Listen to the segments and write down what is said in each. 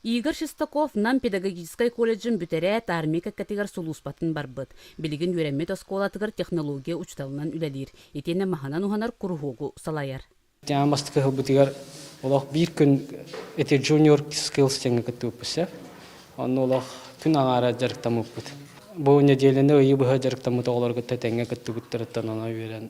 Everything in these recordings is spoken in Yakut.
Игорь Шестаков Нам педагогическай колледжын бүтэрээт, армия кэккэтигэр сулууспатын барбыт. Билигин үөрэммит оскуолатыгар технология учууталынан үлэлиир. Итиэннэ маһынан уһанар куруһуогу салайар. Дьаҥа бастакы сылбытыгар олох биир күн ити Junior Skills диэҥҥэ кыттыбыппыт сөп. Онно олох күн аҥаара дьарыктаммыппыт. Бу нэдиэлэни ыйы быһа дьарыктаммыт оҕолору кытта тэҥҥэ кыттыбыттарыттан ана үөрэн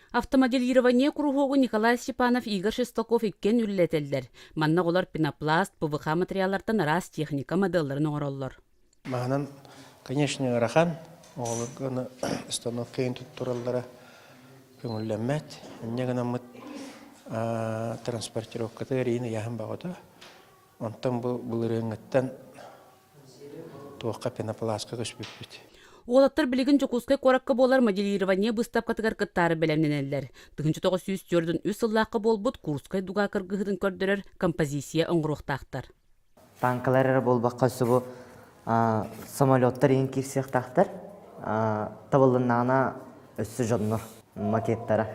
Автомоделирование куруһуогу Николай Степанов, Игорь Шестаков иккиэн үлэлэтэллэр. Манна оҕолор пенопласт, ПВХ материаллартан араас техника моделларын оҥороллор. Маһынан, конечно, ыарахан. Оҕолорго установкайын туттураллара көҥүллэммэт. Инньэ гынаммыт транспортировката эриин ыйаһын баҕата. Онтон бу былырыыҥҥыттан Туохха пенопластка көспүппүт. Уолаттар билигин Дьокуускай куоракка буолар моделирование быыстапкатыгар кыттаары бэлэмнэнэллэр. 1993 сыллаахха буолбут Курскай дуга кыргыһыытын көрдөрөр композиция оҥоруохтаахтар. Таанкалар эрэ буолбакка субу самолеттар иһин киирсиэхтаахтар. Табыллыннаҕына өссө дьоннор макеттара.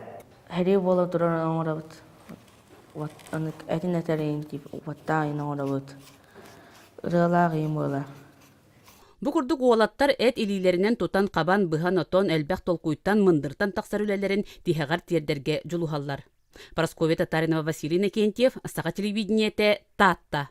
Хәрие буола турар оҥорабыт. Атын этэрин тип уоттаайын оҥорабыт. ырыалаах ийим ыала Бу курдук уолаттар эт илиилэринэн тутан хабан, быһан отон, элбэх толкуйтан, мындыртан тахсар үлэлэрин тиһэҕэр тиэрдэргэ дьулуһаллар. Парасковья Татаринова Василий Иннокентьев, Саха телевидениете, Таатта.